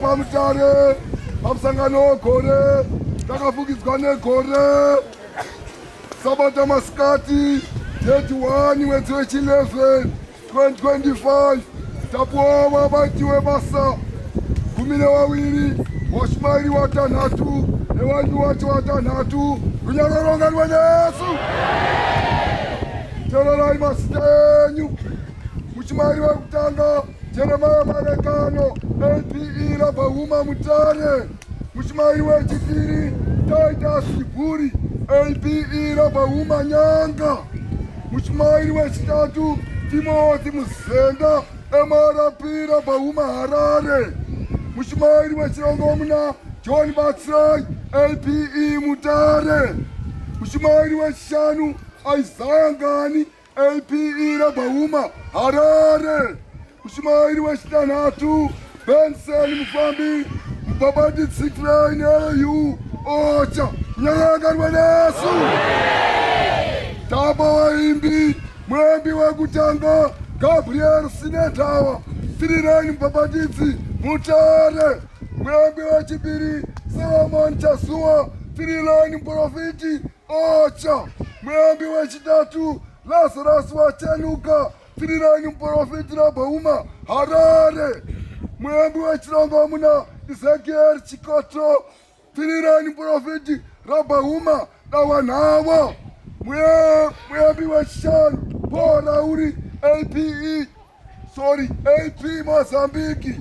Pamutare pamusangano wegore takafukidzwa negore sabata masikati 31 mwedzi wechi11 2025 tapuwa vabati webasa gumi nevaviri washumairi watanhatu nevanhu wacho watanhatu runyanga rwonganwa nesu tererai masita enyu muchimairi vekutanga Jeremiah Manekano, APE Rabahuma Mutare, Mushmairi wechipiri Titus Chiburi, APE Rabahuma Nyanga, Mushmairi wechitatu Timothy Muzenda, MRP Rabahuma Harare, Mushmairi wechirongomuna John Batsirai, APE Mutare, Mushmairi wechishanu Isaiah Ngani, APE Rabhauma Harare, Mushumairi wechitanhatu Benson Mufambi Mubhabhati Tsikirai neyu Ocha Nyakangarwa nesu Tamba waimbi muimbi wekutanga Gabriel Sinetawa Sirirani Mubhabhatidzi Mutare muimbi wechipiri Solomon Chazuwa Sirirani Muprofiti Ocha, muyambi wechitatu, Lazarus Wachenuka, Tiriranyi muporofiti Rabhauma, Harare. Muyambi wechirongomuna, Ezekiel Chikoto, Tiriranyi muporofiti Rabhauma, Dawanhavo. Muyambi wechishanu, Paul Rauri, APE, sorry, AP Mozambique.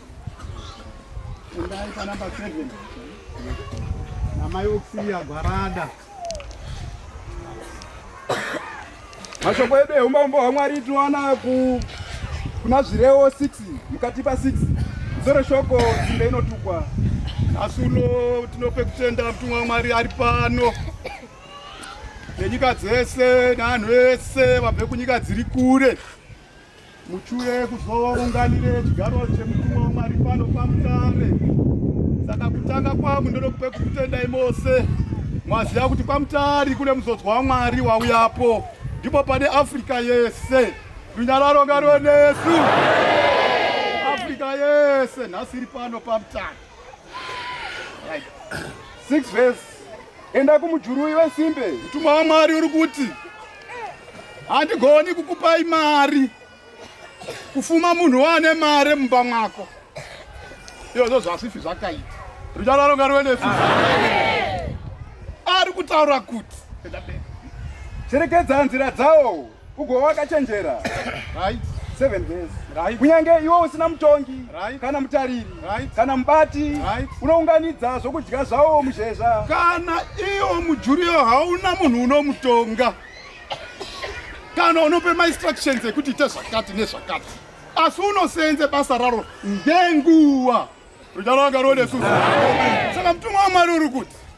Endai pa number 7. Namai Oxilia Gwarada. Mashoko edu eumambo hwaMwari tinowana ku kuna zvirewo 6 mukati pa 6 zoro shoko dzimbe inotukwa nhasi uno tinope kutenda mutumwa wamwari ari pano nenyika dzese neanhu ese vabve kunyika dziri kure Muchure kuzounganire chigaro chemutumwa waMwari pano pamutare. Saka kutanga kwamu ndoda kupe kukutendai mose mwaziva kuti kwamutari kune muzodzwa waMwari wauyapo, ndipo pane Afrika yese runyararo ngaruve nesu. Afrika yese nhasi iri pano pamutare. 6 verse enda kumujurui wesimbe mtumwa wamwari uri kuti handigoni kukupai mari kufuma munhu waane mari mumba mwako iyozvo zvasifi zvakaita runyararo ngaruenefi ari kutaura kuti cherekedza nzira dzawo Ugo wakachenjera. Right. Seven days. Right. Kunyange iwe usina mutongi right. kana mutariri right. kana mubati right. unounganidza zvokudya zvawo muzhezva. Kana iwo mujuriyo hauna munhu unomutonga kana unope mainstructions ekuti ite zvakati nezvakati asi unoseenze basa raro ngenguva rudalanga rodesu saka mutumwa wamwari uri kuti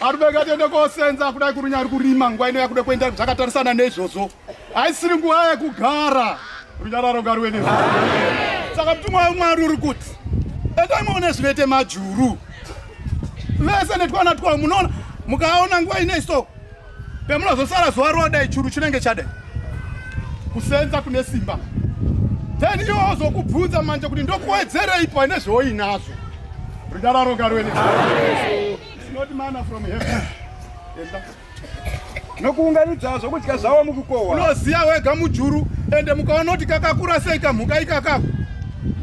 arume ngatiende kosenza kudai kurunyari kurima nguva ino yakuda kuenda zvakatarisana neizvozvo haisiri nguva yekugara runyararo ngaruve ne saka mutumwa wemwari uri kuti endai maone zvinoite majuru vese netwana twavo munoona mukaona nguva inei so pemunozosara zuva rodai churu chinenge chadai kusenza kune simba then iwo ozokubvunza manje kuti ndokuwedzerei paine zvoinazvo ridararo ngarwene nokuunganidza zvokudya zvavo mukukohwa unoziva wega mujuru ende mukaona kuti kakakura sei kamhuka ikakako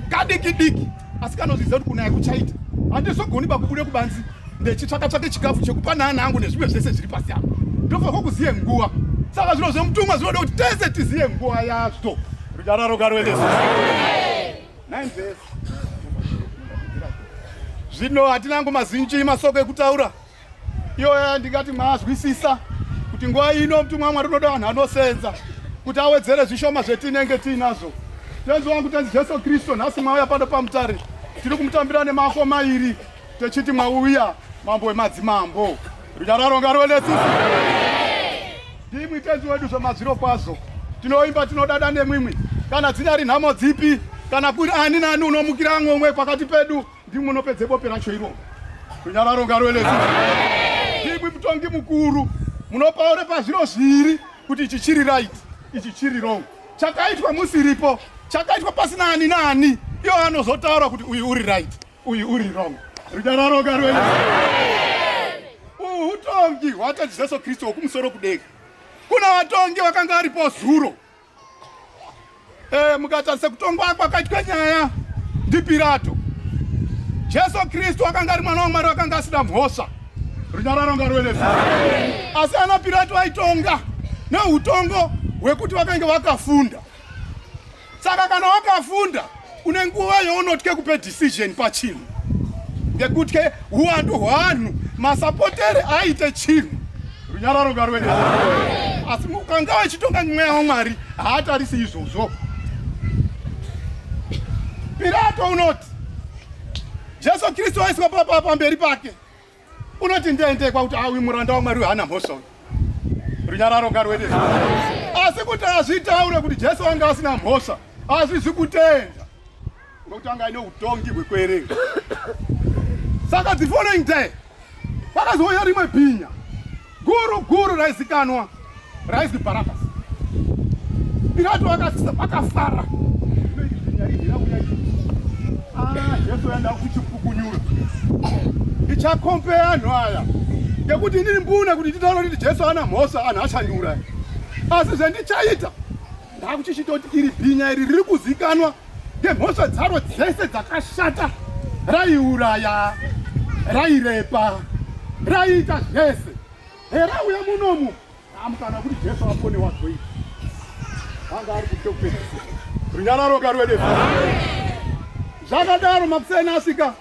kadikidiki asi kanozvidza kuti kunaya kuchaita handizogoni pakubude kubanzi ndechitsvaka tsvake chikafu chekupa naana angu nezvimwe zvese zviri pasi apo ndofanirwa kuziye nguva saka zvino zvemutumwa zvinoda kuti tese tiziye nguva yazvo rudararo karuendesi zvino hatina angu mazinji masoko ekutaura iyoya ndingati maazwisisa kuti nguva ino mutumwa wamwari unoda vanhu anosenza kuti awedzere zvishoma zvetinenge tiinazvo tenzi wangu tenzi jesu kristu nhasi mwauya pano pamutare tiri kumutambira nemako mairi techiti mwauya mambo wemadzimambo runyararo ngaruve nesisi ndimwi tenzi wedu zvemazviro kwazvo tinoimba tinodada nemwimwi kana dzinyari nhamo dzipi kana kuri ani nani unomukira amwe umwe pakati pedu Ndimwe unopedze bope racho iro. Kunyararo ngaro elezo. Ndimwe mutongi mukuru. Munopaure pazviro zviri kuti ichi chiri right, ichi chiri wrong. Chakaitwa musiripo, chakaitwa pasina ani nani. Iyo anozotaura kuti uyu uri right, uyu uri wrong. Runyararo ngaro elezo. Uhu utongi hwata Jesu Kristo wokumusoro kudenga. Kuna vatongi vakanga varipo zuro. E, eh, mukatarisa kutongwa kwakaitwa nyaya ndiPirato, Jesu Kristu akanga ari mwana waMwari akanga asina mhosva. Runyararo ngaruve nesu. Asi ana Pirato vaitonga neutongo hwekuti vakange vakafunda. Saka kana wakafunda une nguva younotya kupe decision pachinhu ngekuti ke huwandu hwanhu masapotere aite chinhu runyararo ngarwene asi ukanga wachitonga mweya wamwari haatarisi izvozvo pirato unoti jesu kristu aiswa pamberi pake unoti ndei ndei kwakuti a ah, uyu muranda wamwari wehana mhosva uyu runyararo ngaruende asi kuti azvitaure kuti jesu anga asina mhosva azvizi kutenda nokuti anga aine utongi hwekuerenga saka the following day kwakazouya rimwe bhinya Guru guru raizikanwa raizwi Bharabhasi. Pirato akafara. Ah, Jesu yanda kuchipukunyura. Ndichakompeya anhu aya. Ngekuti ndiri mbune kuti nditaure kuti Jesu ana mhosva anhu achandiuraya. Asi zvendichaita Ndakuchichitoti iri bhinya iri riri kuzikanwa nemhosva dzaro dzese dzakashata raiuraya rairepa raiita zvese hera uya munomu amukana kuti jesu apone wazoi anga ari kuti kupedzisa runyararo karwede zvakadaro makuseni asvika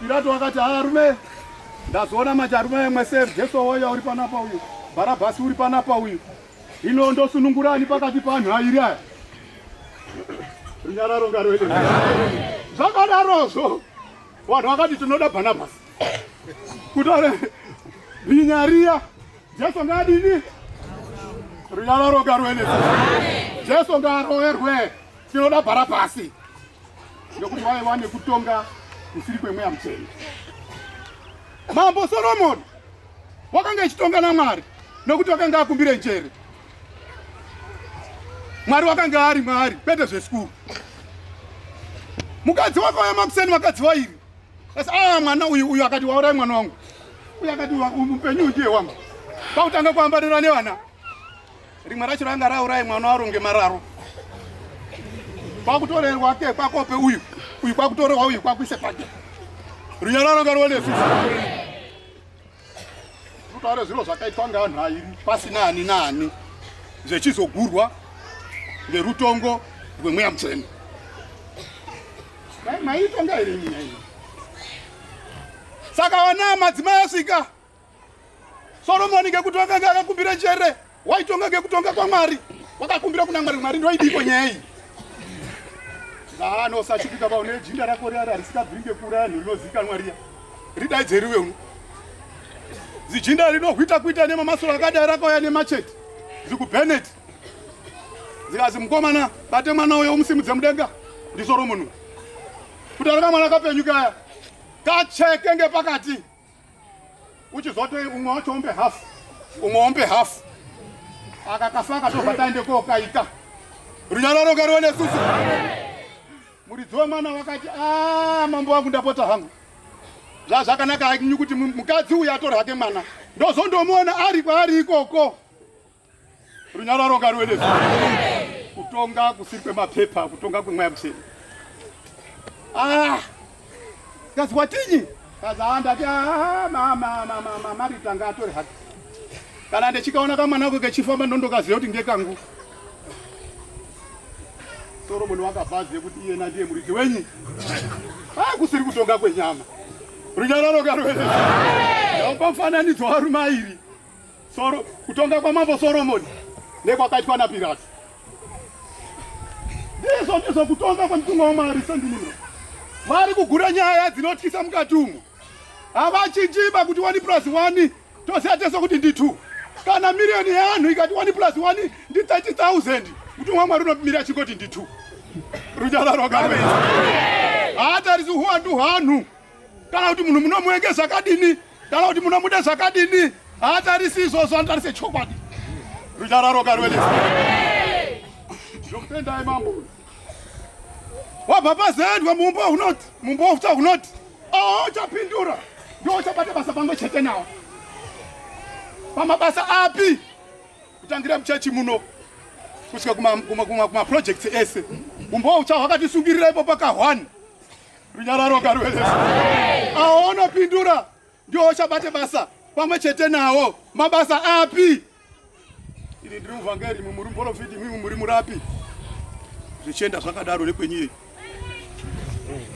pirato akati arume ndazoona mati arume mwese jesu woya uri panapa uyu bharabhasi uri panapa uyu Ino ndosunungurani pakati panhu airi aya. Runyararo ngaroende. Zvakadarozvo vanhu vakati tinoda Barnabas. Kutore binyariya Jesu ngadini? Runyararo ngaroende. Jesu ngaroerwe. Tinoda Barnabas. Nekuti waye wane kutonga kusiri kwemweya mutsvene. Mambo Solomon wakanga achitonga naMwari nokuti wakanga akumbire njere. Mwari wakanga ari Mwari, kwete zvesikuru. Mukadzi wako ya makuseni vakadzi vairi asi ah, mwana uyu uyu akati waurai mwana wangu uyu akati upenyu undiye wangu pakutanga kuambarira nevana rimwe racho ranga raurai mwana waro ngemararo kwakutorerwa ke kwakope uyu uyu kwakutorerwa uyu kwakuise pake runyararo ngaruone sisi Kutaura zviro zvakaitwa ngevanhu airi pasina ani naani zvechizogurwa ngerutongo rwemweya mutsvene. Dai maitonga iri nyaya ino. Saka vana madzimai asvika Soromoni ngekuti vakanga akakumbira njere Waitonga ngekutonga kwaMwari. Wakakumbira kuna Mwari, Mwari ndoidiko nyaya iyi. Zano sachipika ba une jinda rako riya risikabviri ngekura yanhu rinozikanwa riya. Ridaidze riwe uno. Zijinda rinohwita kuita nemamasoro akadai rakauya nemachete. Zikubheneti. Zikazi mukomana bate mwana uyo umusimudze mudenga. Ndisoro munhu. Kutaura mwana kapenyu kaya. Kacheke ngepakati. uchizotoi umwe wacho ombe half umwe ombe half aka kafaka tobva taende kokaita runyararo ngariwe nesusu muridzi wemwana wakati a ah, mambo wangu ndapota hangu zvazvakanaka akinyu kuti mukadzi uyu atore hake mwana ndozondomuona ari kwaari ikoko Runyararo ngaruende kutonga kusiri kwemapepa kutonga kwemweya mutsvene ah kazi watinyi kazi haa ndati ah, mama marita ngaatore hake kana ndichikaona kamwana ako kechifamba ndondokaziva kuti ngekangu soromoni wakabvazive kuti iyena ndiye muridzi wenyi ah kusiri kutonga kwenyama runyararo ngaruende opa mufananidzo warumairi Soro, kutonga kwamambo Soromoni nekwakaitwa naPirato ndizvo ndizvo kutonga kwemutumwa waMwari sendinino vari kugura nyaya dzinotyisa mukati umo havachinjiba kuti wani plus wani toziva tese kuti ndi two kana miriyoni yeanhu ikati wani plus wani ndi 30,000 mutumwa Mwari unomira chingoti ndi two runyararo ngaruve haatarisi huwandu hwanhu kana kuti munhu munomuenge zvakadini kana kuti munomuda zvakadini haatarisi izvozvo anotarise chokwadi runyararo karwelesa ndokutendai mambo wabva pazendwa mumbo hunoti mumbo uta hunoti auchapindura oh, ndouchabata basa pamwe chete nawo pamabasa api kutangira muchechi muno kusvika kumaprojects ese umbo ucha hwakatisungirira ipo pakahwani Runyararo ngaruve nesu. Awo onopindura ndiwo ochabate basa pamwe chete nawo. Mabasa api? Ini ndiri muvhangeri, imwi muri muporofiti, imwi muri murapi. Zvichienda zvakadaro nekwenyu iyeyi.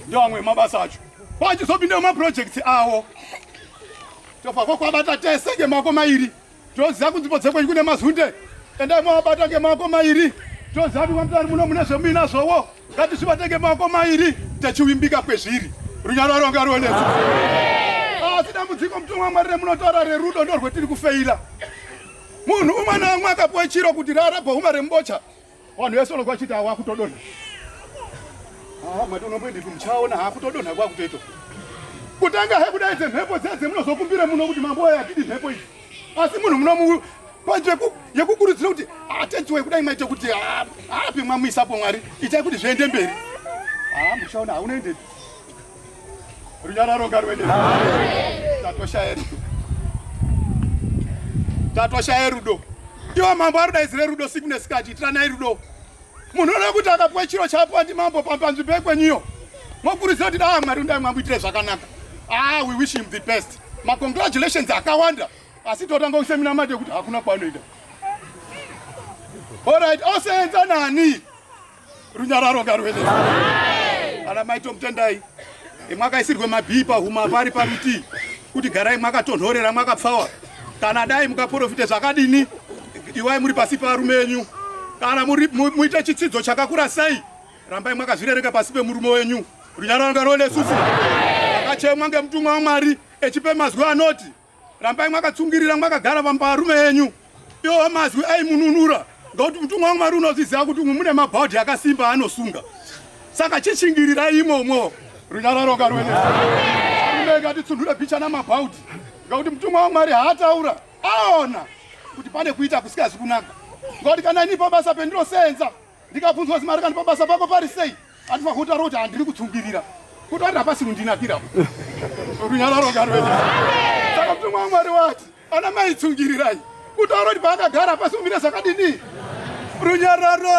Ndiwo amwe mabasa acho. Pachizopinda maprojects awo. Tofa kwakwabata tese ngemako mairi. Toziva kunzvimbo dzekwenyu kune mazunde endai mavabata ngemaoko mairi toziva kuti kwamutari muno mune zvemuina zvowo ngatizvibate ngemaoko mairi techivimbika kwezviri runyaro ronga ruonesa asi dambudziko mutumwa wamwari remunotaura rerudo ndorwetiri kufeira munhu umwe naumwe akapiwa chiro kuti rara bhohuma rembocha Vanhu vese vanobva vachiti awa kutodonha. Ah, mati unomboendepi muchaona ha kutodonha kwa kutoito. Kutanga he kudai dze mhepo dze dze munozokumbira muno kuti mambo aya atidi mhepo iyi. Asi munhu munomu panje ku yekukurudzira kuti atenzi we kudai maite kuti ah, api mwamuisa po mwari itai kuti zviende mberi. Ah, muchaona ha unoendepi. Runyararo ngaruende. Tatoshaya rudo. Tatoshaya rudo. Ndiwo mambo arudaidzire rudo siku nesikati itiranai rudo. Munhu unoda kuti akapuwa chiro chapuwa ndi mambo panzvimbo yekwenyiyo. Mokurudzira kuti daa Mwari undai mwamuitire zvakanaka. Ah, we wish him the best. Ma congratulations akawanda. Asi totanga kusemina mate kuti hakuna kwanoida. All right, osenza nani? Runyararo ngaruende. Ana mai tomutendai. Imwaka isirwe mabhii pahuma pari paruti. Kuti garai mwaka tonhorera mwaka pfawa. Kana dai mukaprofite zvakadini iwai muri pasi parume wenyu. Kana muri muite chitsidzo chakakura sei rambai mwakazvirereka pasi pemurume wenyu. Runyararo ngaruende susu. Akachemwa ngemutumwa waMwari echipe mazwi anoti rambai mwakatsungirira mwakagara vamba varume enyu iwo mazwi aimununura ngokuti mutumwa wangu mwari unozviziva kuti umwe mune mabhaudhi akasimba anosunga saka chishingirirai imomo runyararoka rwene rumeka titsundure bhicha namabhaudhi ngokuti mutumwa wangu mwari haataura aona kuti pane kuita kusikazi kunaka ngokuti kana inipo basa pendinosenza ndikabvunzwa zimari kandi pabasa pako pari sei andifa kutaura kuti handiri kutsungirira kuti ati hapasi kundinakira runyararo ngarwee saka mutumwa wamwari wati ana mai tsungirirai kutaura kuti paakagara hapasi kumira zvakadini runyararo